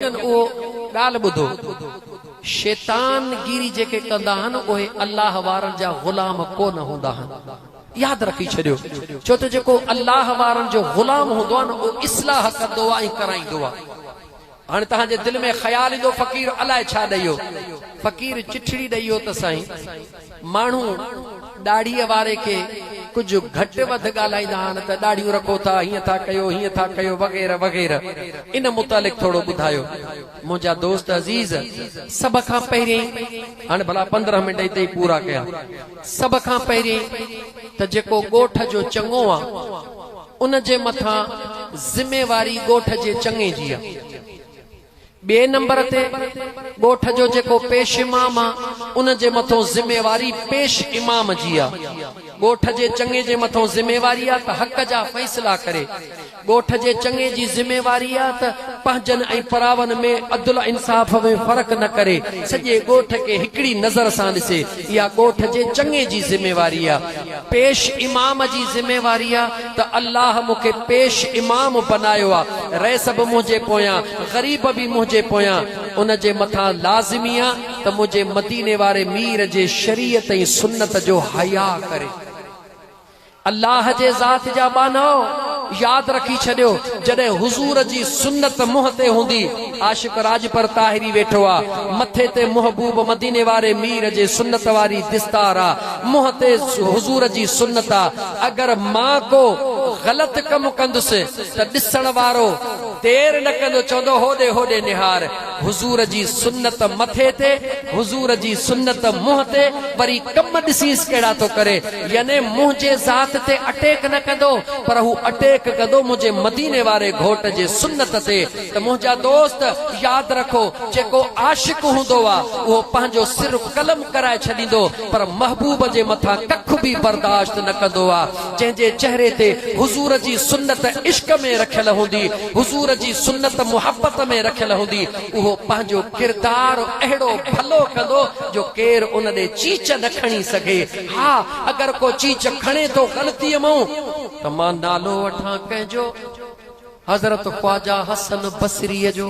ليڪن اهو ڳالهه ٻڌو، شيطان گيري جيڪي ڪندا آهن اهي الله وارن جا غلام ڪو نه هوندا آهن. ياد رکي ڇڏيو، ڇو ته جيڪو الله وارن جو غلام هوندو آهي نه اهو اصلاح ڪندو آهي ۽ ڪرائيندو آهي. هاڻي توهان جي دل ۾ خيال ايندو فقير الائي ڇا ڏئي هو؟ فقير چٺڙي ڏئي هو ته سائين! ماڻهو ڏاڙهيء واري کي ڪجهه گهٽ وڌ ڳالهائيندا آهن ته ڏاڙهيون رکو ٿا، هيئن ٿا ڪيو، هيئن ٿا ڪيو وغيره وغيره. ان متعلق ٿورو ٻڌايو منهنجا دوست عزيز. سڀ کان پهريائين، هاڻي ڀلا پندرهن منٽ اتي ئي پورا ڪيا، سڀ کان پهريائين ته جيڪو ڳوٺ جو چڱو آ، ان جي مٿان ذميواري ڳوٺ جي چڱي جي آ. ٻئي نمبر تي ڳوٺ جو جيڪو پيش امام آ ان جي مٿون ذميواري پيش امام جي آ ڳوٺ جي چڱي جي مٿون ذميواري آ ته حق جا فيصلا ڪري ڳوٺ جي چڱي جي ذميواري آ ته پنهنجن ۽ پراون ۾ عدل انصاف ۾ فرق نه ڪري سڄي ڳوٺ کي هڪڙي نظر سان ڏسي اها ڳوٺ جي چڱي جي ذميواري آ پيش امام جي ذميواري آ ته الله مون کي پيش امام بنايو آ، رئيس به منهنجي پويان، غريب به منهنجي پويان، ان جي مٿان لازمي آ ته منهنجي مديني واري مير جي شريعت ۽ سنت جو حياء ڪري. الله جي ذات جا ٻانهائو! ياد رکي ڇڏيو، جڏهن حضور جي سنت منهن تي هوندي، عاشق راڄپر طاهري ويٺو آ، مٿي تي محبوب مديني واري مير جي سنت واري دستار آ، منهن تي حضور جي سنت آ، ته اگر مان ڪو غلط ڪم ڪندس ته ڏسڻ وارو دير نه ڪندو چوندو هوڏي هوڏي نهار حضور جي سنت مٿي تي حضور جي سنت منهن تي وري ڪم ڏسينس ڪهڙا ٿو ڪري يعني منهنجي ذات تي اٽيڪ نه ڪندو پر هو اٽيڪ ڪندو منهنجي مديني واري گهوٽ جي سنت تي ته منهنجا دوست ياد رکو جيڪو عاشق هوندو آ اهو پنهنجو سر قلم ڪرائي ڇڏيندو پر محبوب جي مٿان ڪک به برداشت نه ڪندو آ جنهن جي چهري تي حضور جي سنت عشق ۾ رکيل هوندي حضور جي سنت محبت ۾ رکيل هوندي اهو پنهنجو ڪردار اهڙو ڀلو ڪندو جو ڪير ان ڏي چيچ نه کڻي سگهي ها اگر ڪو چيچ کڻي ٿو غلطي مئون ته مان نالو وٺان ڪنهن جو حضرت خواجه حسن بصري جو.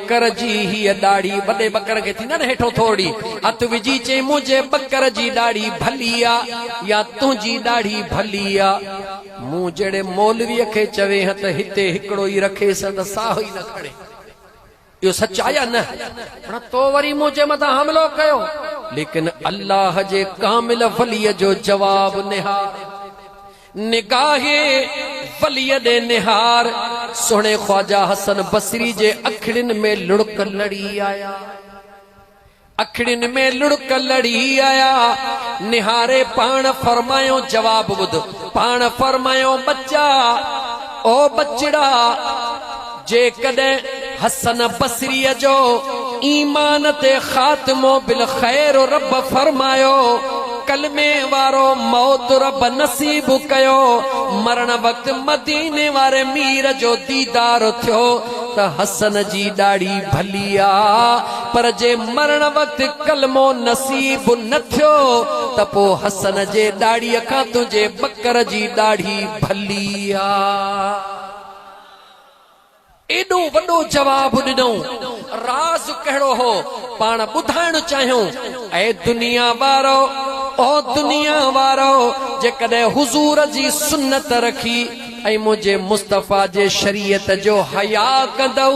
ٻڪر جي هيء ڏاڙهي وڏي ٻڪر کي ٿيندن هيٺون ٿورڙي هٿ وجهي چيائين، منهنجي ٻڪر جي ڏاڙهي ڀلي آ يا تنهنجي ڏاڙهي ڀلي آ؟ مون جهڙي مولويء کي چوي هان ته هتي هڪڙو ئي رکيس هان ته ساهو ئي نه کڻي. اهو سچ آ يا نه؟ هن تو وري منهنجي مٿان حملو ڪيو. ليڪن الله جي ڪامل وليء جو جواب نهار. نگاهه وليء ڏي نهار، سهڻي خواجه حسن بصري جي اکڙين ۾ لڙڪ لڙي آيا. اکڙين ۾ لڙڪ لڙي آيا. نهاري پاڻ فرمايو جواب ٻڌ، پاڻ فرمايو ٻچا! او ٻچڙا! جيڪڏهن حسن بصريء جو ايمان تي خاتمو بالخير رب فرمايو، ڪلمي وارو موت رب نصيب ڪيو، مرڻ وقت مديني واري مير جو ديدار ٿيو ته حسن جي ڏاڙهي ڀلي آ، پر جي مرڻ وقت ڪلمو نصيب نه ٿيو ته پوء حسن جي ڏاڙهي کان تنهنجي ٻڪر جي ڏاڙهي ڀلي آ. ايڏو وڏو جواب ڏنئون، راز ڪهڙو هو، پاڻ ٻڌائڻ چاهيون، اي دنيا وارؤ، او دنيا وارؤ، جيڪڏهن حضور جي سنت رکي ۽ منهنجي مصطفيٰ جي شريعت جو حياء ڪندؤ،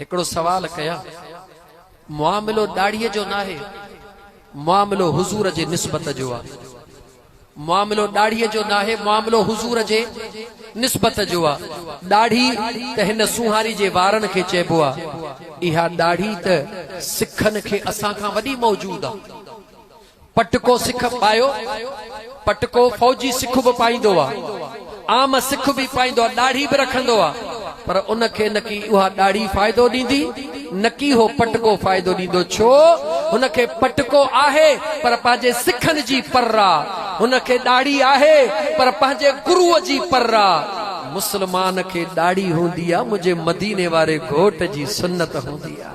هڪڙو سوال ڪيان، معاملو ڏاڙهيء جو ناهي، معاملو حضور جي نسبت جو آ. معاملو ڏاڙهيء جو ناهي، معاملو حضور جي نسبت جو آ. ڏاڙهي ته هن سونهاري جي وارن کي چئبو آ. اها ڏاڙهي ته سکن کي اسان کان وڏي موجود آ. پٽڪو سک پايو، پٽڪو فوجي سک به پائيندو آ، عام سک به پائيندو آ، ڏاڙهي به رکندو آ، پر ان کي نڪي اها ڏاڙهي فائدو ڏيندي، نڪي هو پٽڪو فائدو ڏيندو، ڇو هن کي پٽڪو آهي پر پنهنجي سکن جي پر آ، هن کي ڏاڙهي آهي پر پنهنجي گروء جي پر آ، مسلمان کي ڏاڙهي هوندي آ منهنجي مديني واري گهوٽ جي سنت هوندي آ.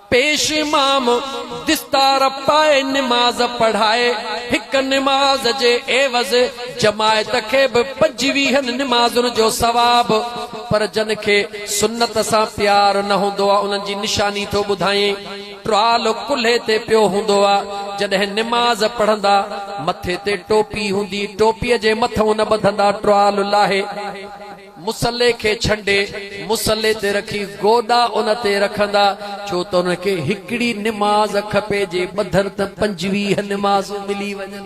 پيش امام دستار پائي نماز پڙهائي، هڪ نماز جي عيوض جماعت کي به پنجويهن نمازن جو ثواب، پر جن کي سنت سان پيار نه هوندو آ انهن جي نشاني ٿو ٻڌائين، ٽرال ڪلهي تي پيو هوندو آ، جڏهن نماز پڙهندا مٿي تي ٽوپي هوندي ٽوپي جي مٿئون نه ٻڌندا ٽرال لاهي. مصلي کي ڇنڊي مصلي تي رکي گوڏا ان تي رکندا، ڇو ته انهن کي هڪڙي نماز کپي جي ٻڌن ته پنجويهه نمازون ملي وڃن.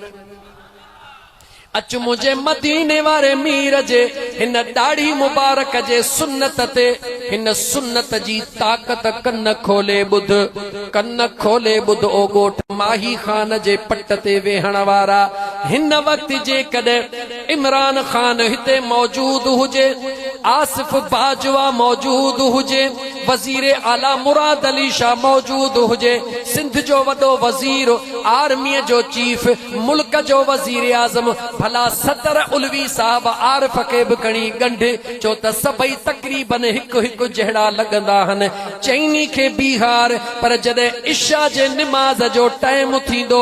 اچ منهنجي مديني واري مير جي هن ڏاڙهي مبارڪ جي سنت تي هن سنت جي طاقت ڪن کولي ٻڌ ڪن کولي ٻڌ او ڳوٺ ماهي خان جي پٽ تي ويهڻ وارا هن وقت جيڪڏهن عمران خان هتي موجود هجي، آصف باجوا موجود هجي، وزير اعليٰ مراد علي شاهه موجود هجي، سنڌ جو وڏو وزير، آرميء جو چيف، ملڪ جو وزيراعظم، ڀلا صدر علوي صاحب عارف کي به کڻي ڳنڍ، ڇو ته سڀئي تقريباً هڪ هڪ جهڙا لڳندا هن. چئني کي بيهار، پر جڏهن عشاء جي نماز جو ٽائيم ٿيندو.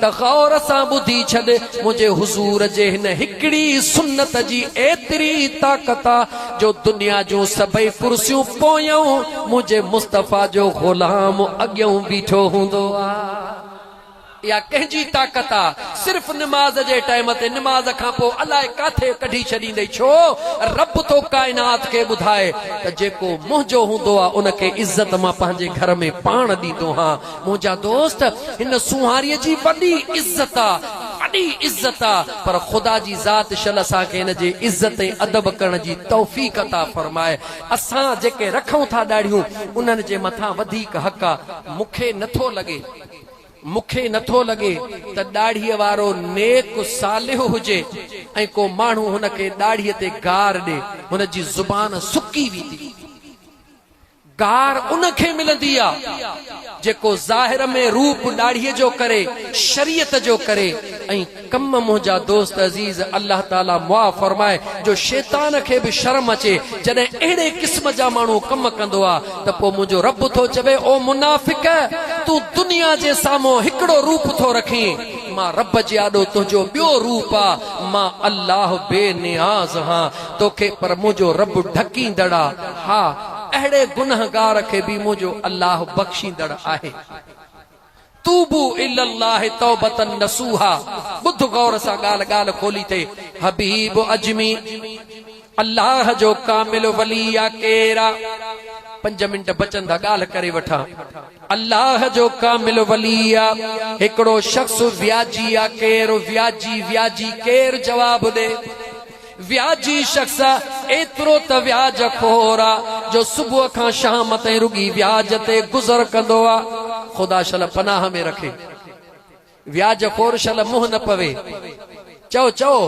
ته غور سان ٻڌي ڇڏ، منهنجي حضور جي هن هڪڙي سنت جي ايتري طاقت آ، جو دنيا جون سڀئي ڪرسيون پويون منهنجي مصطفيٰ جو غلام اڳيون بيٺو هوندو آ. اها ڪنهن جي طاقت آ؟ صرف نماز جي ٽائيم تي، نماز کان پوء الاء ڪاٿي ڪڍي ڇڏيندئي ڇو؟ رب ٿو ڪائنات کي ٻڌائي ته جيڪو منهنجو هوندو آ، ان کي عزت مان پنهنجي گهر ۾ پاڻ ڏيندو هان، منهنجا دوست! هن سونهاريء جي وڏي عزت آ، وڏي عزت آ، پر خدا جي ذات شل اسان کي هن جي عزت ۽ ادب ڪرڻ جي توفيق عطا فرمائي. اسان جيڪي رکون ٿا ڏاڙهيون، انهن جي مٿان وڌيڪ حق آ. مون کي نه ٿو لڳي، مون کي نه ٿو لڳي ته ڏاڙهيء وارو نيڪ صالح هجي ۽ ڪو ماڻهو هن کي ڏاڙهيء تي گار ڏي. هن جي زبان سڪي ويندي. گار ان کي ملندي آ جيڪو ظاهر ۾ روپ ڏاڙهي جو ڪري شريعت جو ڪري ۽ ڪم منهنجا دوست عزيز الله تعالي معاف فرمائي جو شيطان کي به شرم اچي جڏهن اهڙي قسم جا ماڻهو ڪم ڪندو آ ته پو منهنجو رب ٿو چوي او منافق تون دنيا جي سامهون هڪڙو روپ ٿو رکين مان رب جي آڏو تنهنجو ٻيو روپ آ مان الله بي نياز هان توکي پر منهنجو رب ڍڪيندڙ آ ها اهڙي گنهگار کي به منهنجو الله بخشيندڙ آهي. توبو الي الله توبة نصوحا ٻڌ غور سان ڳالهه ڳالهه کولي ٿي حبيب عجمي الله جو ڪامل ولي يا ڪير آ پنج منٽ بچن ٿا ڳالهه ڪري وٺان الله جو ڪامل ولي آ هڪڙو شخص وياجي آ ڪير وياجي وياجي ڪير جواب ڏي وياجي شخص ايترو ته وياج خور آ جو صبح کان شام تائين رڳي وياج تي گذر ڪندو آ. خدا شل پناهه ۾ رکي. وياج خور شل منهن نه پوي. چئو چئو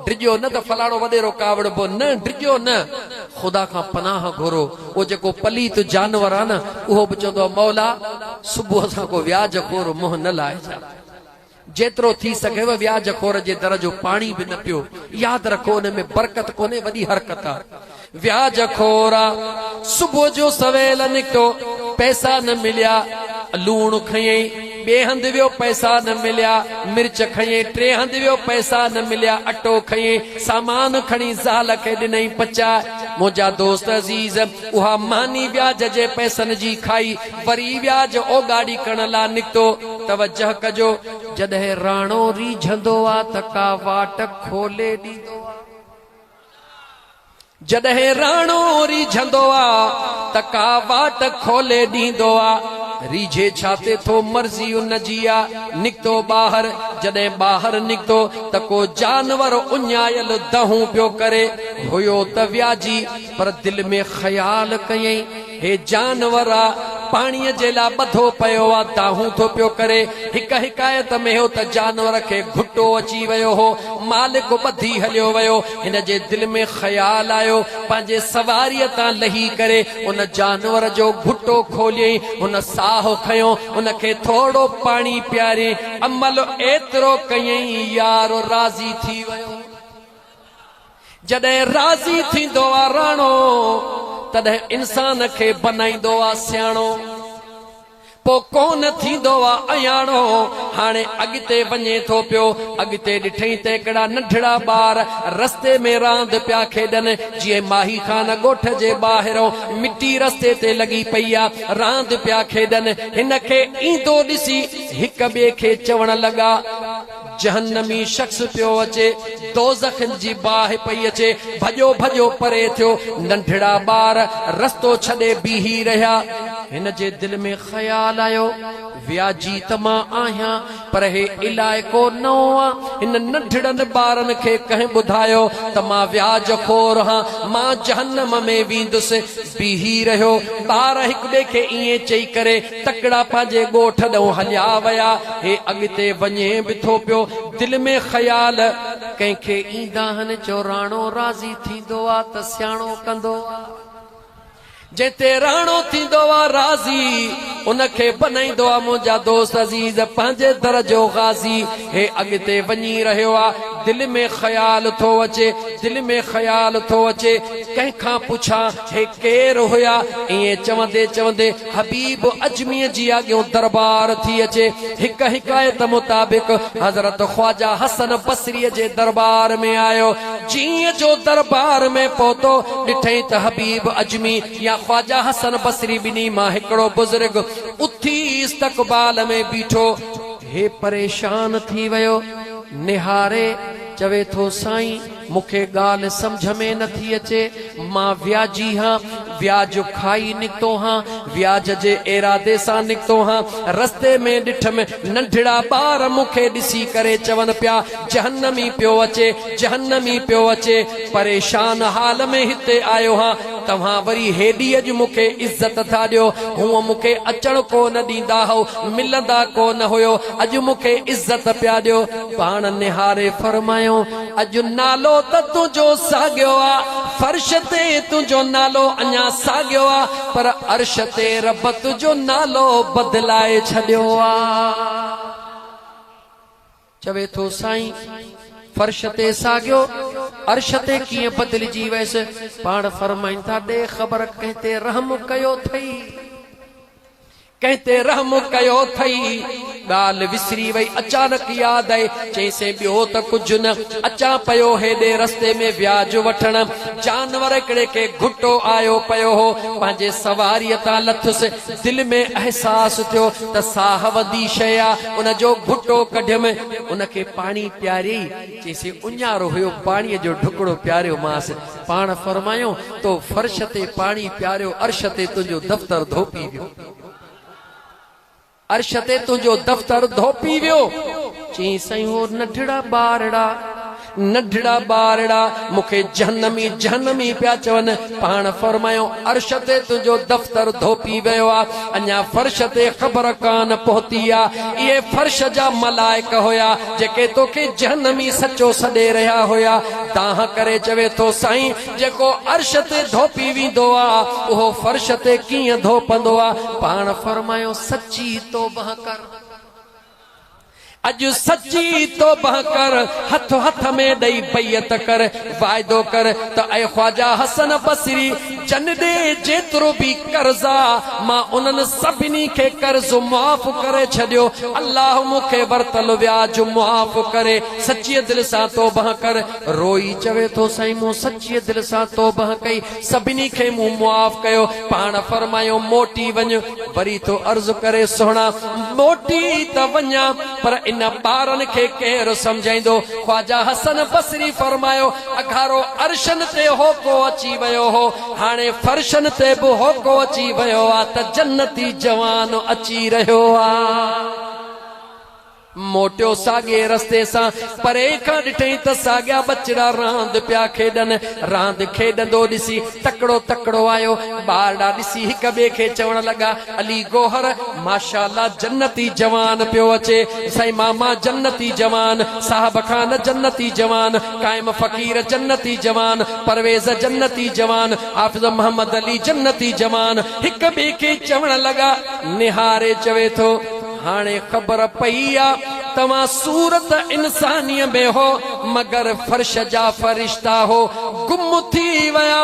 ڊڄو نه ته فلاڻو وڏيرو ڪاوڙبو نه ڊڄو نه. خدا کان پناهه گهرو. او جيڪو پليت جانور آ نه اهو به چوندو آ مولا صبح سان ڪو وياج خور منهن نه لائجان. جيترو ٿي سگهيو ويا جخور جي در جو پاڻي به نه پيو ياد رکو ان ۾ برڪت ڪونهي وڏي حرڪت آ ويا جخورا صبح جو سويل نڪتو پئسا نه مليا لوڻ کنيئي ٻي هنڌ ويو پئسا نه مليا مرچ کنيئي ٽي هنڌ ويو پئسا نه مليا اٽو کنيئي سامان کڻي زال کي ڏنئي پچاء منهنجا دوست عزيز اها ماني وياج جي پئسن جي کائي وري ويا جو او گاڏي ڪڻ لا نڪتو. توجه ڪجو. جڏهن راڻو ريجهندو آ ته ڪا واٽ کولي ڏيندو آ. جڏهن راڻو ريجهندو آ ته ڪا واٽ کولي ڏيندو آ. ريجهي ڇا تي ٿو مرضي ان جي آ. نڪتو ٻاهر. جڏهن ٻاهر نڪتو ته ڪو جانور اڃايل دنهون پيو ڪري. هيو ته وياجي پر دل ۾ خيال ڪيئي. هي جانور آ پاڻيء جي لاء ٻڌو پيو آ، دانهون ٿو پيو ڪري. هڪ حڪايت ۾ هو ته جانور کي گهٽو اچي ويو هو. مالڪ ٻڌي هليو ويو. هن جي دل ۾ خيال آيو. پنهنجي سواريء تان لهي ڪري ان جانور جو گهٽو کوليئين. هن ساهه کنيو. ان کي ٿورڙو پاڻي پياريئين. عمل ايترو ڪيئين، يار راضي ٿي ويو. جڏهن راضي ٿيندو آ راڻو، تڏهن انسان کي بنائيندو آ سياڻو. پو ڪونه ٿيندو آ اياڻو. هاڻي اڳتي وڃي ٿو پيو. اڳتي ڏٺئين ته هڪڙا ننڍڙا ٻار رستي ۾ راند پيا کيڏن. جيئن ماهي خان ڳوٺ جي ٻاهرئون مٽي رستي تي لڳي پئي آ. راند پيا کيڏن. هن کي ايندو ڏسي هڪ ٻئي کي چوڻ لڳا. جهنمي شخص پيو اچي، دوزخ جي باهه پئي اچي، ڀڄو ڀڄو پري ٿيو، ننڍڙا ٻار رستو ڇڏي بيهي رهيا. هن جي دل ۾ خيال آيو، وياجي ته مان آهيان، پر هي علائقو نئون آ، هن ننڍڙن ٻارن کي ڪنهن ٻڌايو ته مان وياج خور هان، مان جهنم ۾ ويندس. بيهي رهيو، ٻار هڪٻئي کي ائين چئي ڪري تڪڙا پنهنجي ڳوٺ ڏانهن هليا ويا. هي اڳتي وڃي به ٿو پيو. دل ۾ خيال ڪنهن کي ايندا آهن، چو راڻو راضي ٿيندو آ ته سياڻو ڪندو آ. جنهن تي راڻو ٿيندو آ راضي، ان کي بنائيندو آ منهنجا دوست عزيز، پنهنجي در جو غازي. هي اڳتي وڃي رهيو آ. دل ۾ خيال ٿو اچي، دل ۾ خيال ٿو اچي، ڪنهن کان پڇان؟ هي ڪير هيا؟ ائين چوندي چوندي حبيب عجميء جي آڳيون درٻار ٿي اچي. هڪ حڪايت مطابق حضرت خواجه حسن بصريء جي درٻار ۾ آيو. جيئن جو درٻار ۾ پهتو، ڏٺئي ته حبيب عجمي يا خواجه حسن بصري ٻنهي مان هڪڙو بزرگ اٿي استقبال ۾ بيٺو. هي پريشان ٿي ويو، نهاري چوي ٿو سائين! مون کي ڳالهه سمجهه ۾ نه ٿي اچي. مان وياجي هان، وياج کائي نڪتو هان، وياج جي ارادي سان نڪتو هان. رستي ۾ ڏٺم ننڍڙا ٻار مون کي ڏسي ڪري چون پيا، جهنمي پيو اچي، جهنمي پيو اچي. پريشان حال ۾ هتي آيو هان، توهان وري هيڏي اڄ مون کي عزت ٿا ڏيو، هونء مون کي اچڻ ڪو نه ڏيندا هئو، ملندا ڪو نه هيو، اڄ مون کي عزت پيا ڏيو. پاڻ نهاري فرمايائون. اڄ نالو ته تنهنجو ساڳيو آ، فرش تي تنهنجو نالو اڃا ساڳيو آ، پر عرش تي رب تنهنجو نالو بدلائي ڇڏيو آ. چوي ٿو سائين! فرش تي ساڳيو، عرش تي ڪيئن بدلجي ويس؟ پاڻ فرمائين ٿا، ڏي خبر ڪنهن تي رحم ڪيو ٿئي؟ ڪنهن تي رحم ڪيو ٿئي؟ ڳالهه وسري وئي، اچانڪ ياد آئي، چيسين ٻيو ته ڪجهه نه، اچان پيو هيڏي رستي ۾ وياج وٺڻ، جانور هڪڙي کي گهٽو آيو پيو هو، پنهنجي سواريء تان لٿس، دل ۾ احساس ٿيو ته ساهه وندي شيء آ، ان جو گهٽو ڪڍيم، ان کي پاڻي پياري، چيسين اڃارو هيو پاڻيء جو ڍڪڙو پياريو مانس. پاڻ فرمايائون، تو فرش تي پاڻي پياريو عرش تي تنهنجو دفتر ڌوپي ويو. عرش تي تنهنجو دفتر ڌوپي ويو. چيائين، سائين هو ننڍڙا ٻارڙا، ننڍڙا ٻارڙا مون کي جهنمي، جهنمي پيا چون. پاڻ فرمايو، عرش تي تنهنجو دفتر ڌوپي ويو آ، اڃا فرش تي خبر ڪانه پهتي آ. اهي فرش جا ملائڪ هيا، جيڪي توکي جهنمي سچو سڏي رهيا هيا. دانهن ڪري چوي ٿو، سائين! جيڪو عرش تي ڌوپي ويندو آ، اهو فرش تي ڪيئن ڌوپندو آ؟ پاڻ فرمايو، سچي توبهه ڪر. اڄ سچي توبه ڪر، هٿ هٿ ۾ ڏئي بيعت ڪر، واعدو ڪر ته اي خواجه حسن بصري جن ڏي جيترو به قرض آ مان انهن سڀني کي قرض معاف ڪري ڇڏيو الله مون کي ورتل وياج معاف ڪري سچي دل سان توبه ڪر روئي چوي ٿو سائين مون سچي دل سان توبه ڪئي سڀني کي مون معاف ڪيو، پاڻ فرمايو، موٽي وڃ. وري ٿو عرض ڪري، سهڻا! موٽي ته وڃان، پر ان ٻارن کي ڪير سمجهائيندو؟ خواجه حسن بصري فرمايو، اگهاڙو عرشن تي هوڪو اچي ويو هو، هاڻي فرشن تي به هوڪو اچي ويو آ ته جنتي جوان اچي رهيو آ. موٽيو ساڳئي رستي سان. پري کان ڏٺئين ته ساڳيا ٻچڙا راند پيا کيڏن. راند کيڏندو ڏسي تڪڙو تڪڙو آيو. ٻارڙا ڏسي هڪ ٻئي کي چوڻ لڳا، علي گوهر، ماشاء الله جنتي جوان پيو اچي. سائين ماما جنتي جوان، صاحب خان جنتي جوان، قائم فقير جنتي جوان، پرويز جنتي جوان، حافظ محمد علي جنتي جوان. هڪ ٻئي کي چوڻ لڳا. نهاري چوي ٿو. هاڻي خبر پئي آ توهان صورت انسانيء ۾ هو مگر فرش جا فرشتا هو گم ٿي ويا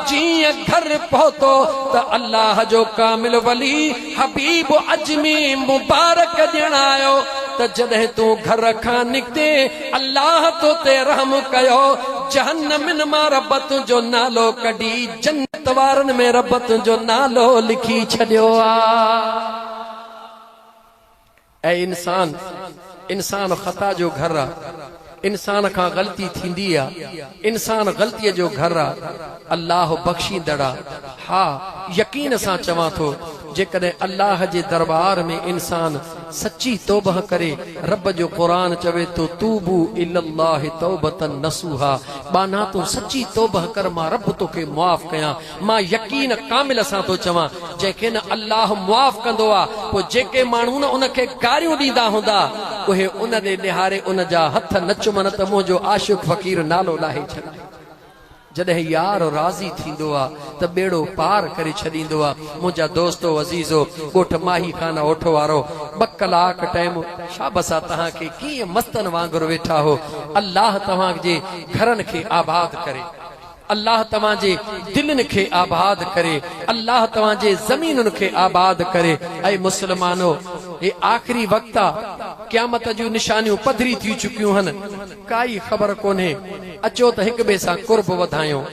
جيئن گهر پهتو ته الله جو ڪامل ولي حبيب عجمي مبارڪ ڄڻ آيو ته جڏهن تون گهر کان نڪتين الله تو تي رحم ڪيو جهنمين مان رب تنهنجو نالو ڪڍي جنت وارن ۾ رب تنهنجو نالو لکي ڇڏيو آ. اي انسان! انسان خطا جو گهر آ، انسان کان غلطي ٿيندي آ، انسان غلطيء جو گهر آ، الله بخشيندڙ آ، ها! يقين سان چوان ٿو، جيڪڏهن الله جي درٻار ۾ انسان سچي توبهه ڪري، رب جو قرآن چوي ٿو، توبو الي الله توبة نصوحا، ٻانها تون سچي توبهه ڪر مان رب توکي معاف ڪيان، مان يقين ڪامل سان ٿو چوان، جنهن کي نه الله معاف ڪندو آ، پوء جيڪي ماڻهو نه ان کي گاريون ڏيندا هوندا، اهي ان ڏي نهاري ان جا هٿ نه چمن ته منهنجو عاشق فقير نالو لاهي ڇڏي. جڏهن يار راضي ٿيندو آ ته ٻيڙو پار ڪري ڇڏيندو آ. منهنجا دوستو عزيزو! ڳوٺ ماهي خان اوٺ وارو ٻه ڪلاڪ ٽيم شابس آ تهان کي ڪيئن مستن وانگر ويٺا هو. الله توهان جي گهرن کي آباد ڪري. الله توهان جي دلين کي آباد ڪري الله توهان جي زمينن کي آباد ڪري اي مسلمانو هي آخري وقت آ قيامت جون نشانيون پڌري ٿي چڪيون هن ڪائي خبر ڪونهي اچو ته هڪ ٻئي سان قرب وڌايون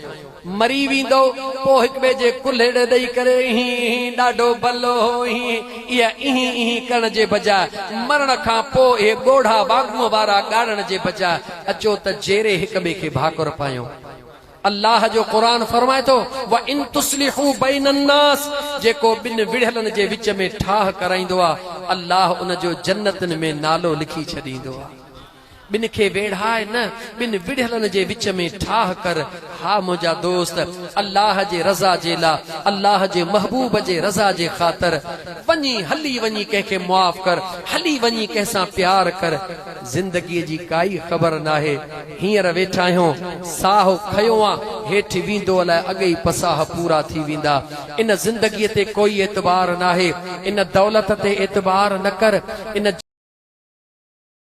مري ويندو پو هڪ ٻئي جي ڪلهيڙ ڏئي ڪري اهي اهي ڏاڍو بلو هو اهي اهي اهي اهي ڪرڻ جي بجاء مرڻ کان پو اهي ڳوڙها واڳون وارا ڳاڙڻ جي بجاء اچو ته جيري هڪ ٻئي کي ڀاڪر پايون. الله جو قرآن فرمائي ٿو، وَإِن تُصْلِحُوا بَيْنَ النَّاسِ جيڪو ٻن وڙهيلن جي وچ ۾ ٺاهه ڪرائيندو آ، الله ان جو جنتن ۾ نالو لکي ڇڏيندو آ. ٻن کي ويڙهاء نه، ٻن وڙهيلن جي وچ ۾ ٺاهه ڪر. ها منهنجا دوست! الله جي رضا جي لا، الله جي محبوب جي رضا جي خاطر، وڃي، هلي وڃي ڪنهن کي معاف ڪر، هلي وڃي ڪنهن سان پيار ڪر. زندگيء جي ڪائي خبر ناهي، هينئر ويٺا آهيون، ساهه کنيو آ، هيٺ ويندو الائي اڳ ئي پساهه پورا ٿي ويندا. ان زندگيء تي ڪوئي اعتبار ناهي، ان دولت تي اعتبار نه ڪر، ان.